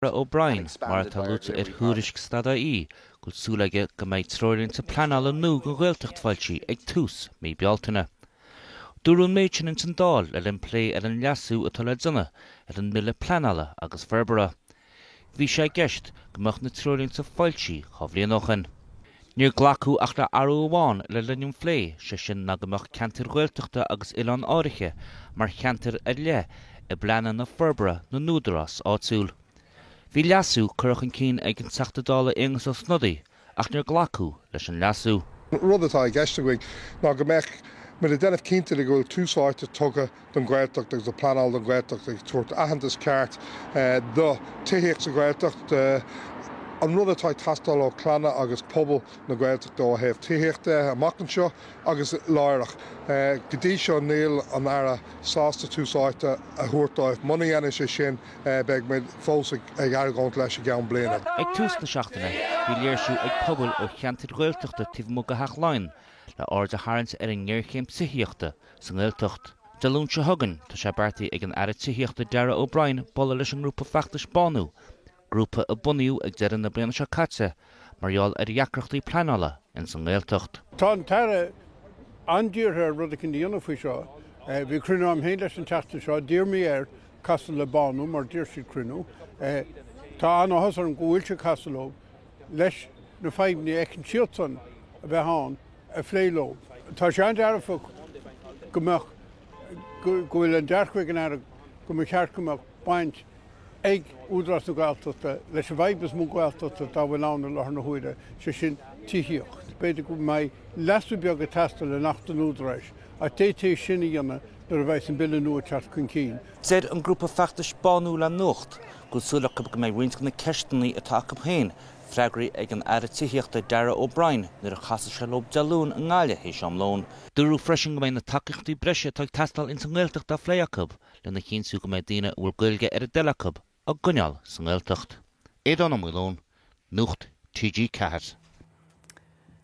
Darragh O'Brien, mar atá luaite ar thuairisc Stad a hAon, go bhfuil súil aige go mbeidh treoirlínte pleanála nua don Ghaeltacht foilsithe ag tús mí Bealtaine. Dúradh an méid sin ins an Dáil le linn plé ar an leasú atá le déanamh ar an mBille Pleanála agus Forbartha. Bhí sé i gceist go mbeadh na treoirlínte foilsithe dhá bhliain ó shin. Níor glacadh ach le athrú amháin le linn an phlé, sé sin ná go mbeadh ceantair Ghaeltachta agus oileáin áirithe mar cheantair ar leith i bpleananna forbartha na n-údarás áitiúil. Bhí leasú curtha chun cinn ag an Teachta Dála Aengus Ó Snodaigh ach níor glacadh leis an leasú. Rud atá i gceist againn ná go mbeadh, muid ag déanamh cinnte de go bhfuil tús áite tugtha, don Ghaeltacht agus ag pleanáil don Ghaeltacht, ag tabhairt aitheantas ceart do tithíocht sa Ghaeltacht, an rud atá ag teastáil ó chlanna agus pobal na Gaeltachta ó thaobh tithíocht de amach anseo agus láithreach. Go dtí seo níl an Aire sásta tús áite a thabhairt dóibh. Muna ndéanann sé sin beidh muid fós ag argóint leis i gceann bliana. Ag tús na seachtaine bhí léirsiú ag pobail ó cheantair Ghaeltachta taobh amuigh de Theach Laighean le aird a tharraingt ar an ngéarchéim tithíochta sa nGaeltacht. Dé Luain seo chugainn Tá sé beartaithe ag an Aire Tithíochta Darragh O'Brien bualadh leis an ngrúpa feachtais Bánú, grúpa a bunaíodh ag deireadh na bliana seo caite mar gheall ar dheacrachtaí pleanála ins an nGaeltacht. Tá an tAire an-dírithe ar rud éicint a dhéanamh faoi seo. Bhí cruinniú agam féin leis an tseachtain seo. D'iarr mé air casadh le Bánú mar d'iarr siad cruinniú. Tá an-áthas orm go bhfuil sé ag casadh leo leis na fadhbanna a fheiceann siadsan a bheith ann. a phlé leo. Tá sé an-dearfa go mbeadh, go bhfuil an dearcadh ag an Aire go mba cheart go mbeadh baint ag Údarás na Gaeltachta leis an bhfadhb is mó Gaeltachta atá, dá bhfuil ann i láthair na huaire, sé sin tithíocht. B'fhéidir go mbeidh leasú beag ag teastáil in Acht an Údaráis ach d'fhéadfaí é sin a dhéanamh nuair a bheas an Bille nua ag teacht chun cinn. Deir an grúpa feachtais Bánú le Nuacht go bhfuil súil acu go mbeidh roinnt de na ceisteanna atá acu féin freagraithe ag an Aire Tithíochta Darragh O'Brien nuair a chasfaidh sé leo Dé Luain i nGaillimh théis am lóin. Dúradh freisin go mbeidh na tacaíochtaí breise atá ag teastáil ins an nGaeltacht á phlé acu lena chinntiú go mbeidh daoine a bhfuil Gaeilge ar a dtoil acu á gcoinneáil sa nGaeltacht. Aodhán Ó Maoileoin, Nuacht TG4.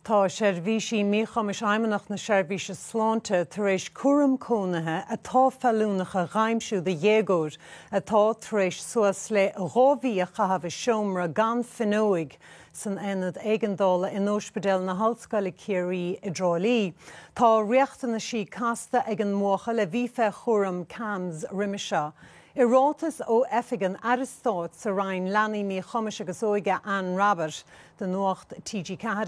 Tá seirbhísí míchumais Fheidhmeannacht na Seirbhíse Sláinte tar éis cúram cónaithe atá feiliúnach a dh'aimsiú do dhéagóir atá tar éis suas le dhá mhí a chaitheamh i seomra gan fuinneoig san Aonad Éigeandála in Ospidéal na hOllscoile Chiarraí i dTrá Lí. Tá riachtanaisí casta ag an mbuachaill a bhí fé chúram CAMHS roime seo. I ráiteas ó Oifig an Aire Stáit sa Roinn Leanaí, Míchumais agus Óige, Anne Rabbitte, do Nuacht TG4,